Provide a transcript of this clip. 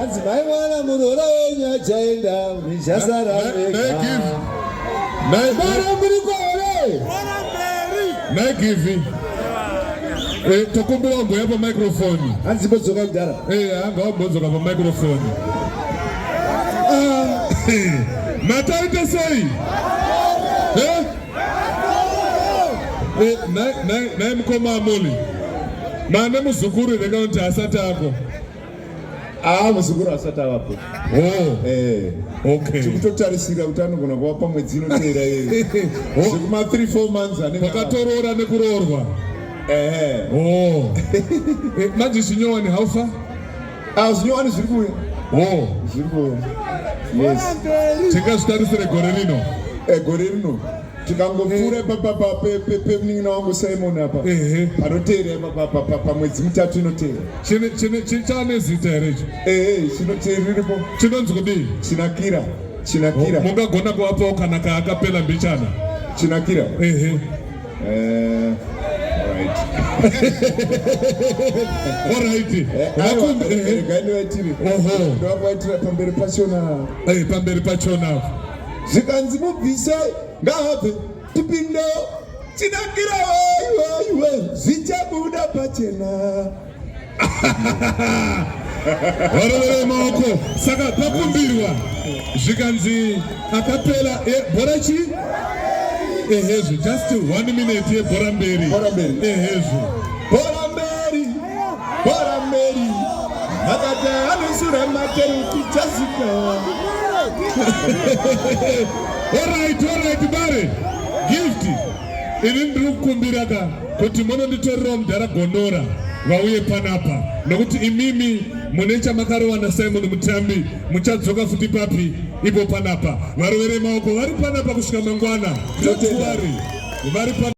hanzi mai mwana muroora wenyu achaenda mizhasara mara muri kwaore maigivi eh, tokumbira wamboya pamicrofoni hanzi bodzoka kudhara eh, anga wambodzoka pamicrofoni ah, mataita sei eh? nai mukoma amoli mane muzukuru here kana kuti hasati ako Ah, muzukuru asati avapo. Oh. Eh. Okay. Tikutotarisira kuti anogona kuva pamwe dzino teera iri. Oh. Zvekuma 3 4 months ane. Pakatoroora nekuroorwa. Eh. Oh. Eh, manje zvinyowani how far? Ah, zvinyowani zviri kuuya. Oh. Zviri kuuya. Yes. Tingazvitarisire gore rino. Eh, gore rino. tikangopfuura ipapapa pemunin'ina wangu simon apa panoteera ipapapa pamwedzi mitatu inoteera chane zita here icho ehe chinoteeriripo chinonzi kudii chinakira chinakira mungagona kuvapawo kana kaakapela mbichana chinakira ehe eh, oraiti vakumbirega eh, eh, ndivaitire ndovakuvaitira pamberi pachona pamberi pachona zvikanzi mubvise ngaabve tipinde tinakira waiwaiwe zvichabuda pachena varovere maoko saka pakumbirwa zvikanzi akapela e, bhora chii ehezvo just one minute yebhora mberi ehezvo Bora Mary akati anosura matero kuchasika. Alright, alright bare. Gift. Ini ndiri kukumbira ka kuti munonditorerawo mudhara gondora vauye panapa nokuti imimi mune chamakarowana simon mutambi muchadzoka futi papi ipo panapa varovere maoko vari panapa kusvika mangwana tokuvari vari